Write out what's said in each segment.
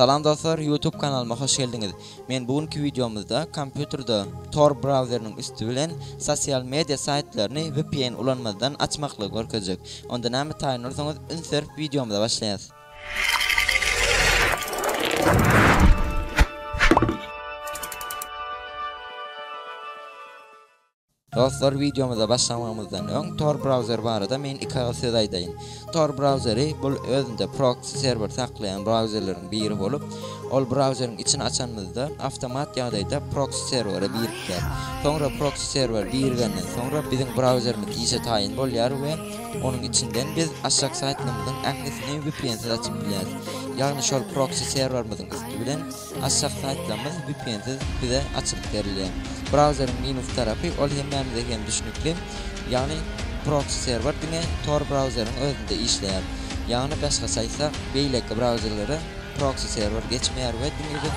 Salam dostlar YouTube kanalyma hoş geldiňiz. Men bu günki wideomyzda kompýuterde Tor browseriniň üsti bilen sosial media saýtlaryny vpn ulanmazdan açmaklygy görkezjek. Onda näme taýyn bolsaňyz üns berip wideomyza başlaýas. Dostlar wideomyza başlamamyzdan öň Tor browser barada men iki agyz söz aýdaýyn. Tor browseri bul özünde proksi serwer saklaýan browserleriň biri bolup, ol browseriň içini açanymyzda awtomat ýagdaýda proksi serwere birikýär. Soňra proksi serwer birigenden soňra biziň browserimiz işe taýyn bolýar we onuň içinden biz açjak saýtlarymyzyň ählisini vpnsiz açyp bilýäris. Ýagny şol proksi serwerimiziň üsti bilen Aşak saýtlarymyz vpnsiz bize açylyp berilýär. Brauzeriň minus tarapy, ol hemmämize hem düşnükli, ýagny proksi serwer diňe tor brauzeriň özünde işleýär. Ýagny başgaça aýtsak, beýleki brauzerlere proksi serwer geçmeýär we diňe-de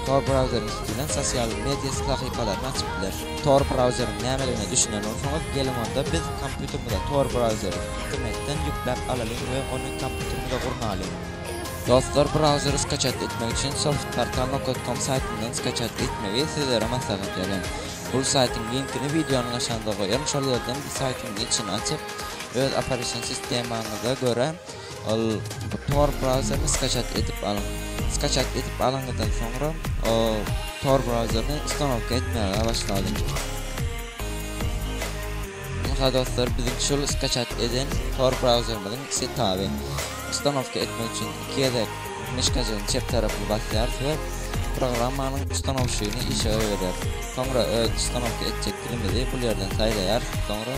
tor brauzeriň üsti bilen sosial media sahypalaryny açyp bileris. Tor brauzeriň nämedigine düşünen bolsaňyz, geliň onda biz kompýuterimize tor brauzeri internetden ýükläp alalyň we ony kompýuterimize gurnalyň. Dostlar bir agzary skaçat etmek üçin softpartama.com saýtyndan skaçat etmegi sizlere maslahat berýän. Bul saýtyň linkini wideonyň aşagynda goýaryn şol ýerden bu saýtyň içini açyp öz operasion sistemaňyza görä ol tor brauzerini skaçat edip alyň. Skaçat edip alyňyzdan soňra tor brauzerini ustanowka etmäge başlalyň. Ynha dostlar biziň şul skaçat eden tor brauzerimiziň setaby. Ustanowka etmek üçin iki gezek myşkajygyň çep tarapyny basýarys we programmanyň ustanowşygyny işe goýberýär. Soňra öz ustanowka etjek dilimizi bul ýerden saýlaýarys, soňra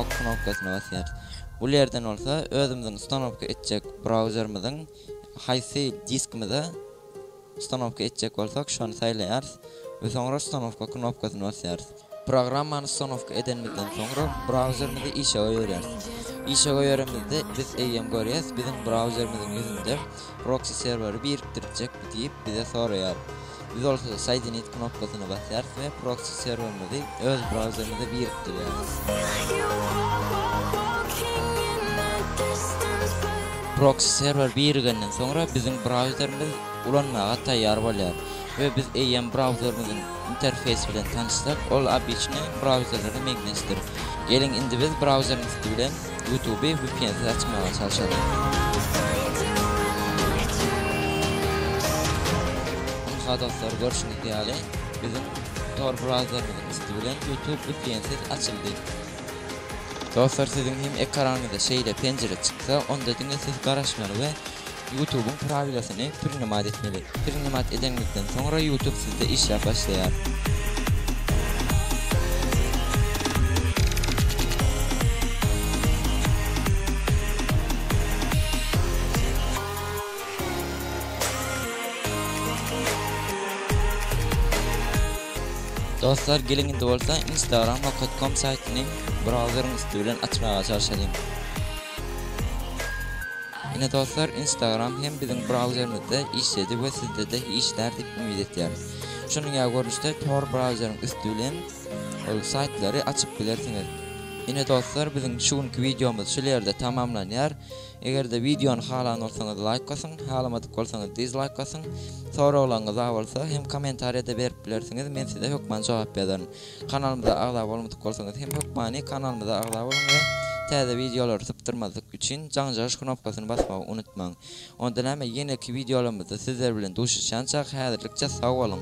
ok knopkasyna basýarys. Bul ýerden bolsa özümiziň ustanowka etjek brauzerimiziň haýsy diskimize ustanowka etjek bolsak şony saýlaýarys we soňra ustanowka knopkasyny basýarys. Programmany ustanowka edenimizden soňra, brauzerimizi işe goýberýäris. Işe goýberenimizde, biz eýýäm görýäs, biziň brauzerimiziň ýüzünde Proxy serweri birikdirjekmi diýip, bize soraýar. Biz bolsa Soedinit knopkasyna basýarys we Proxy serwerimizi öz brauzerimize birikdirýäris. Proxy serwer birigenden soňra, biziň brauzerimiz ulanmaga taýýar bolýar. we biz eýýäm brauzerimiziň interfeýsi bilen tanyşsak, ol obyçnyý brauzerlere meňzeşdir. Geliň indi biz brauzeriň üsti bilen Youtube vpnsiz açmaga çalşalyň. Ynha dostlar görşüňiz ýaly biziň Tor brauzerimiziň üsti bilen Youtube vpnsiz açyldy. Dostlar siziň hem ekranyňyza şeýle penjire çyksa onda diňe siz garaşmaly we Ýutubyň prawilasyny prinimad etmeli. Prinimad edeňizden soňra ýutub sizde işläp başlaýar. Dostlar geliň indi bolsa instagram nokat kom saýtyny brauzeriň üsti bilen açmaga çalşalyň. Ine dostlar instagram hem biziň brauzerimizde işledi we sizde de işlär dip umyt etýärin. Şunuň ýaly görnüşde tor brauzeriň üsti bilen ol saýtlary açyp bilersiňiz. Ine dostlar biziň şu günki wideomyz şul ýerde tamamlanýar. Eger-de wideony halan bolsaňyz laýk basyň, halamadyk bolsaňyz dizlaýk basyň. Soraglaryňyz bar bolsa hem kommentariýada berip bilersiňiz, men size hökman jogap ýazaryn. Kanalymyza agza bolmadyk bolsaňyz hem hökmany kanalymyza agza boluň we täze wideolary sypdyrmazlyk üçin jaňjaryş knopkasyny basmagy unutmaň. Onda näme ýeneki wideolarymyzda sizler bilen duşuşýançak häzirlikçe sag boluň.